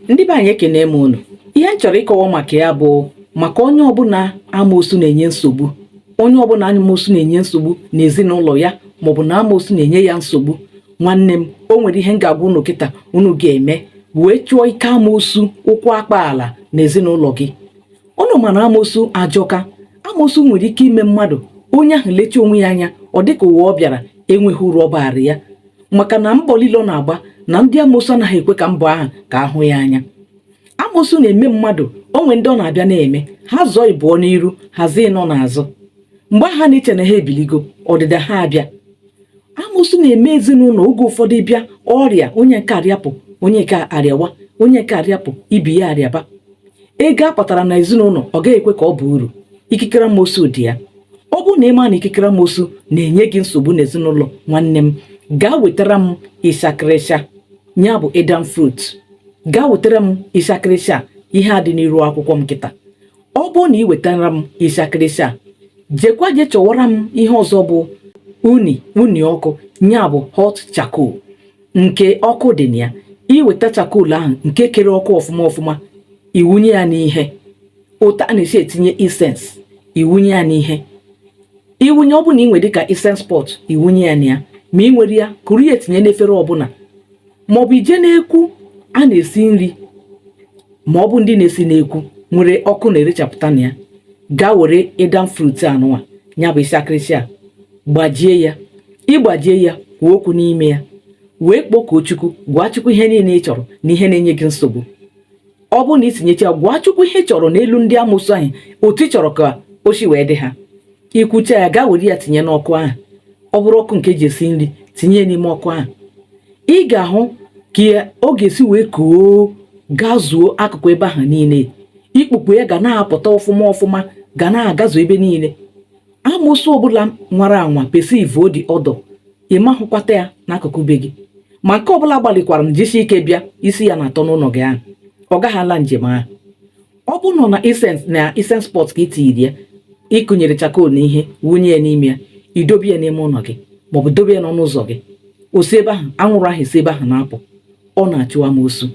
ndị be anyị ekene m unu ihe m chọrọ ịkọwa maka ya bụ maka onye ọbụla onye ọbụla amoosu na-enye nsogbu n'ezinụlọ ya maọbụ na amoosu na-enye ya nsogbu nwanne m o nwere ihe m ga-agwa unu kịta unu ga-eme wee chụọ ike amoosu ụkwụ akpa ala n'ezinụlọ gị unu ma na amosu ajọka amosu nwere ike ime mmadụ onye ahụ lecha onwe ya anya ọ dịka ụwa ọ bịara enweghị uru ọ baara ya maka na mbọ niile ọ na-agba na ndị amosu anaghị ekwe ka mbọ ahụ ka a hụ ya anya amosu na-eme mmadụ o nwe ndị ọ na-abịa na-eme ha zọọ ịbụọ n'iru ha zọọ ịnọ n'azụ mgbe ha na-eche na ha ebiligo ọdịda ha abịa amosu na-eme ezinụlọ oge ụfọdụ bịa ọrịa onye nke a rịapụ onye nke a arịawa onye nke a rịapụ ibe ya arịaba ego a kpatara na ezinụlọ ọ gaghị ekwe ka ọ bụ uru ikikere amosu dị ya ọ bụrụ na ị ma na ikikere amosu na-enye gị nsogbu n'ezinụlọ nwanne m gaa wetara m ịsakịrịsha ya bụ aidan fruit gaa wetara m ịsakịrịsha ihe a dị n'iru akwụkwọ m kịta ọ bụrụ na ị wetara m ịshakịrịsha jekwa je chọwara m ihe ọzọ bụ unyi unyi ọkụ ya bụ hot charcoal nke ọkụ dị na ya i weta charcoal ahụ nke kere ọkụ ọfụma ọfụma i wunye ya n'ihe otu a na-esi etinye incense i wunye ya n'ihe i wunye ọ bụ na ị nwere dịka incense pot i wunye ya na ya ma ị nwerọ ya kuru ya etinye n'efere ọbụla maọbụ i je n'ekwu a na-esi nri ma ọ bụ ndị na-esi n'ekwu nwere ọkụ na-erechapụta na ya gaa were aidan fruit anụnwa ya bụ ịsakịrịsha gbajie ya ị gbajie ya kwuo okwu n'ime ya wee kpọkuo chukwu gwa chukwu ihe niile ị chọrọ na ihe na-enye gị nsogbu ọ bụrụ na i tinyecha gwa chukwu ihe ị chọrọ n'elu ndị amosu anyị otu ị chọrọ ka o si wee dị ha i kwucha ya gaa were ya tinye n'ọkụ ahụ ọ bụrụ ọkụ nke e ji esi nri tinye ya n'ime ọkụ ahụ ị ga-ahụ ka ọ ga-esi wee koo gazuo akụkụ ebe ahụ niile ikpukpu ya ga na-apụta ọfụma ọfụma ga na-agazu ebe niile amosu ọbụla nwara anwa perceive the odour ị ma-ahụkwata ya n'akụkụ be gị ma nke ọbụla gbalịkwara m jisi ike bịa isi ya na-atọ n'ụlọ gị ahụ ọ gaghị ala njem ahụ ọ bụ na ọ na incense na incense pot ka i tiri ya i kunyere charcoal na ihe wunye ya n'ime ya i dobe ya n'ime ụlọ gị maọbụ dobe ya n'ọnụ ụzọ gị o si ebe ahụ anwụrụ ahụ esi ebe ahụ na-apụ ọ na-achụ amoosu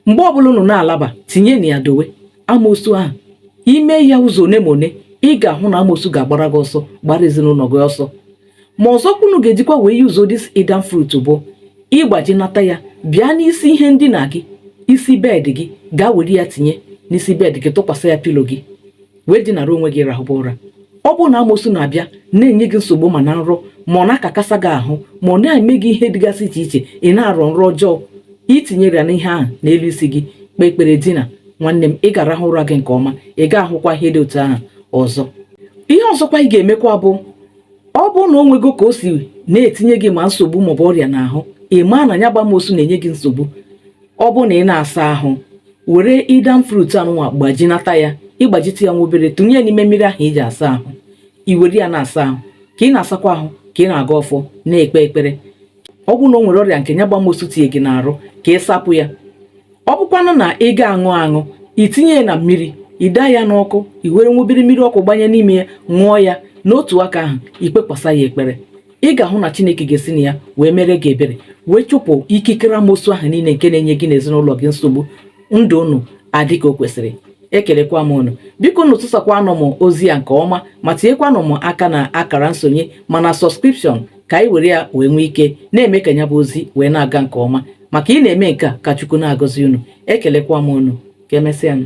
mgbe ọbụla unu na-alaba tinye na ya dowe amoosu ahụ i me ya ụzọ one ma one ị ga-ahụ na amoosu ga-agbara gị ọsọ gbara ezinụlọ gị ọsọ ma ọzọkwa unu ga-ejikwa wee use this aidan fruit bụ ị gbajinata ya bịa n'isi ihe ndina gị isi bed gị gaa were ya tinye n'isi bed gị tụkwasị ya pillow gị wee dinara onwe gị rahụba ụra ọ bụrụ na amosu na-abịa na-enye gị nsogbu ma na nrọ ma ọ na-akakasa gị ahụ ma ọ na-eme gị ihe dịgasị iche iche ị na-arọ nrọ ọjọọ i tinyere ya n'ihe ahụ n'elu isi gị kpee ekpere dina nwanne m ị ga-arahụ ụra gị nke ọma ị ga-ahụkwa ihe dị otu ahụ ọzọ ihe ọzọkwa ị ga-emekwa bụ ọ bụrụ na o nwego ka o si na-etinye gị ma nsogbu maọbụ ọrịa n'ahụ ị maa na ya gbamosu na-enye gị nsogbu ọ bụrụ na ị na-asa ahụ were aidan fruit anụnwa gbajinata ya ị gbajite ya nwa obere tụnye ya n'ime mmiri ahụ i ji asa ahụ i were ya na-asa ahụ ka ị na-asakwa ahụ ka ị na-agọ ọfọ na-ekpe ekpere ọ bụrụ na o nwere ọrịa nke nya gbamosu tinye gị n'arụ ka ị sapụ ya ọ bụkwanụ na ị ga-aṅụ aṅụ i tinye ya na mmiri i de ya n'ọkụ i were nwubiri mmiri ọkụ gbanye n'ime ya ṅụọ ya n'otu aka ahụ i kpekwasa ya ekpere ị ga-ahụ na chineke ga-esi na ya wee mere gị ebere wee chụpụ ikikere amosu ahụ niile nke na-enye gị n'ezinụlọ gị nsogbu ndụ unu adị ka o kwesịrị ekelekwa m unu biko unu tụsakwanụ m ozi ya nke ọma ma tinyekwanụ m aka n'akara nsonye ma na subscription ka anyị were ya wee nwee ike na-eme ka ya bụ ozi wee na-aga nke ọma maka ị na-eme nke a ka Chukwu na-agọzi unu ekelekwa m unu ka emesịanụ